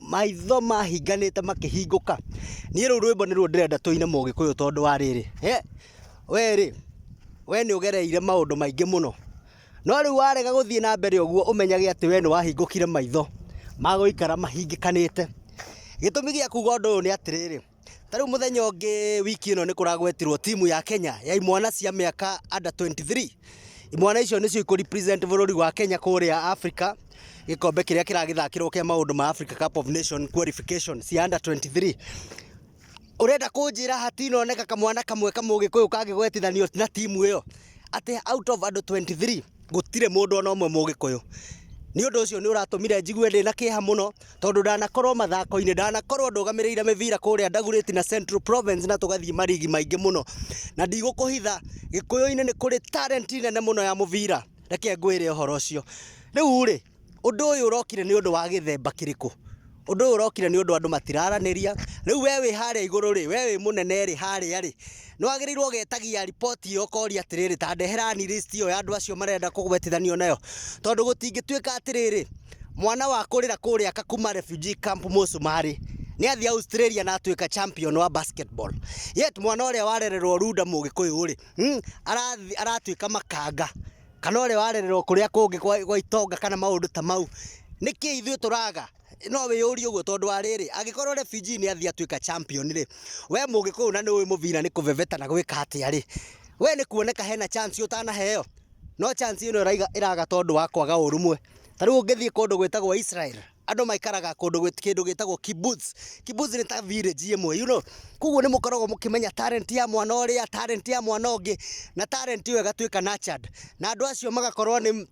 Maitho mahinganĩte makĩhingũka. Niĩ rũu rwĩmbo nĩruo ndĩrenda tũine mũgĩkũyũ tondũ wa rĩrĩ, we rĩ, we nĩ ũgereire maũndũ maingĩ mũno, no rĩu warega gũthiĩ na mbere ũguo ũmenyage atĩ we nĩ wahingũkire maitho magũikara mahingĩkanĩte. Gĩtũmi gĩa kuga ũndũ ũyũ nĩ atĩrĩrĩ, Ta rĩu mũthenya ũngĩ wiki ĩno nĩ kũragwetirwo timu ya Kenya ya imwana cia mĩaka under 23. Imwana icio nĩcio ikũ represent bũrũri wa Kenya kũrĩa Africa gĩkombe kĩrĩa kĩragĩthakĩrwo kĩa maũndũ ma Africa Cup of Nation qualification cia under 23. Ũrenda kũnjĩra hatinoneka kamwana kamwe kamũgĩkũyũ kangĩgwetithanio na timu ĩyo atĩ out of andũ 23 gũtirĩ mũndũ ona ũmwe mũgĩkũyũ. Nĩ ũndũ ũcio nĩ ũratũmire njigue ndĩna kĩeha mũno. tondũ ndanakorwo mathako-inĩ, ndanakorwo ndũgamĩrĩire mĩbira kũrĩa Dagoretti na Central Province na tũgathiĩ marigi maingĩ mũno, na ndigũkũhitha, Gĩkũyũ-inĩ nĩ kũrĩ talent nene mũno ya mũbira, reke ngwĩre ũhoro ũcio. Rĩu rĩ, ũndũ ũyũ ũrokire nĩ ũndũ wa gĩthemba kĩrĩkũ? Ũndũ ũyũ ũrokire nĩ ũndũ andũ matiraranĩria, rĩu we wĩ harĩa igũrũ rĩ, we wĩ mũnene rĩ, harĩa rĩ, nĩ wagĩrĩirwo ũgetagia riboti iyo ũkoria atĩrĩrĩ ta ndeherani list iyo ya andũ acio marenda kũgwetithanio nayo tondũ gũtingĩtuĩka atĩrĩrĩ mwana wa kũrĩra kũrĩa aka kuma refugee camp mũcumarĩ nĩ athiĩ Australia na atuĩka champion wa basketball yet mwana ũrĩa warererwo Runda mũgĩkũyũ rĩ mm, arathi- aratuĩka makanga kana ũrĩa warererwo kũrĩa kũngĩ gwa gwa itonga kana maũndũ ta mau nĩkĩ ithuĩ tũraga No wĩyũrie ũguo tondũ wa rĩrĩ, angĩkorwo Refuge nĩ athiĩ atuĩka champion rĩ, we mũgĩkũyũ na nĩ ũĩ mũbira nĩ kũbebeta na gwĩka atĩa rĩ, we nĩ kuoneka hena chance ũtanaheo? No chance ĩno ĩraiga ĩraga tondũ wa kwaga ũrũmwe. Ta rĩu ũngĩthiĩ kũndũ gwĩtagwo Israel, andũ maikaraga kũndũ gwĩ- kĩndũ gĩtagwo kibbutz. Kibbutz nĩ ta village ĩmwe you know. Koguo nĩ mũkoragwo mũkĩmenya talent ya mwana ũrĩa, talent ya mwana ũngĩ, na talent ĩyo ĩgatuĩka nurtured. Na andũ acio magakorwo nĩ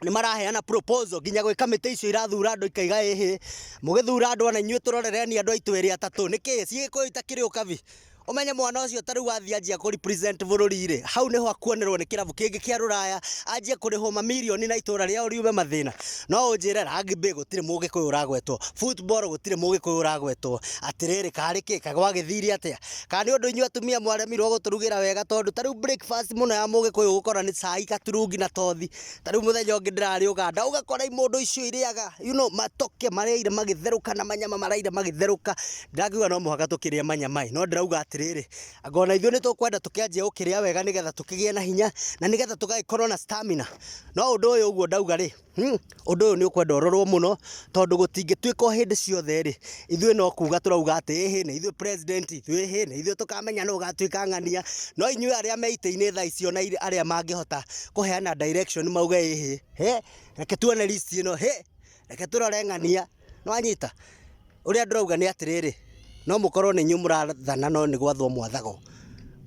nĩ maraheana proposal nginya gwĩ kamĩtĩ icio irathura andũ ikaiga ĩhĩ, mũgĩthura andũ ona inyuĩ tũrorereni andũ aitũ erĩ atatũ, nĩkĩ cigĩkũyũ itakĩrĩ ũkabi? Ũmenye mwana ũcio ta rĩu athiĩ anjia kũ represent bũrũri rĩ, hau nĩho akuonerwo nĩ kĩrabu kĩngĩ kĩa rũraya, anjie kũrĩhwo mamirioni na itũra rĩao riume mathĩna. No ũnjĩre rugby gũtirĩ mũgĩkũyũ ũragwetwo, football gũtirĩ mũgĩkũyũ ũragwetwo, atĩrĩrĩ karĩ kĩ, kaĩ gwagĩthire atĩa? Kana nĩ ũndũ inyuĩ atumia mwaremirwo gũtũrugĩra wega tondũ ta rĩu breakfast mũno ya mũgĩkũyũ gũkorwo nĩ cai gaturungi na tothi. Ta rĩu mũthenya ũngĩ ndĩrarĩ Uganda ũgakora imũndũ icio irĩaga you know matoke marĩire magĩtherũka na manyama maraire magĩtherũka. Ndĩrakiuga no mũhaka tũkĩrĩe manyama ĩ, no ndĩrauga atĩrĩrĩ, anga ona ithuĩ nĩ tũkwenda tũkĩanjie gũkĩrĩa wega nĩgetha tũkĩgĩe na hinya na nĩgetha tũgagĩkorwo na stamina. No ũndũ ũyũ ũguo ndauga rĩ, Ũndũ ũyũ nĩ ũkwenda ũrorwo mũno tondũ gũtingĩtuĩka o hĩndĩ ciothe rĩ, ithuĩ no kuga tũrauga atĩ ĩhĩ nĩ ithuĩ president itũ ĩhĩ nĩ ithuĩ tũkamenya nũ ũgatuĩka ng'ania. No inyuĩ arĩa me itĩ-inĩ thaa ici ona arĩa mangĩhota kũheana direction mauge ĩhĩ, hĩ, reke tuone list ĩno, hĩ, reke tũrore ng'ania. Nĩ wanyita? Ũrĩa ndĩrauga nĩ atĩrĩrĩ, no mũkorwo nĩ inyuĩ mũrathana no nĩ gwathwo mwathagwo.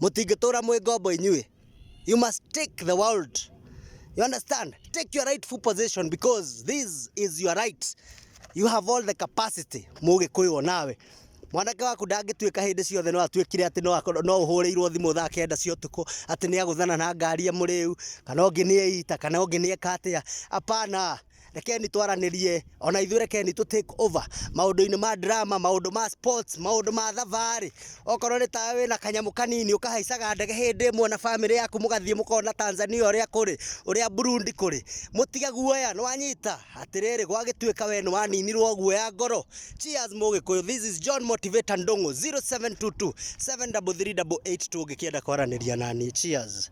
Mũtingĩtũra mwĩ ngombo inyuĩ. You must take the world. You understand? Take your rightful possession because this is your right. You have all the capacity. Mũgĩkũyũ nawe. Mwanake waku ndangĩtuĩka hĩndĩ ciothe no atuĩkire atĩ no akorwo no ũhũrĩirwo thimũ thaa kenda cia ũtukũ atĩ nĩ agũthana na ngari ya mũrĩu kana ũngĩ nĩ eita kana ũngĩ nĩ eka atĩa. Hapana. rekeni twaranĩrie ona ithuĩ rekeni tũ take over maũndũ-inĩ ma drama maũndũ ma sports maũndũ ma thabarĩ okorwo nĩ tawe wĩna kanyamũ kanini ũkahaicaga ndege hĩndĩ ĩmwe na bamĩrĩ yaku mũgathiĩ mũkona Tanzania ũrĩa kũrĩ ũrĩa Burundi kũrĩ mũtige guoya nĩwanyita atĩrĩrĩ gwagĩtuĩka we nĩwaninirwo guoya ngoro cheers mũgĩkũyũ this is John Motivator Ndung'u 0722 733 8 tũngĩkĩenda kwaranĩria nani cheers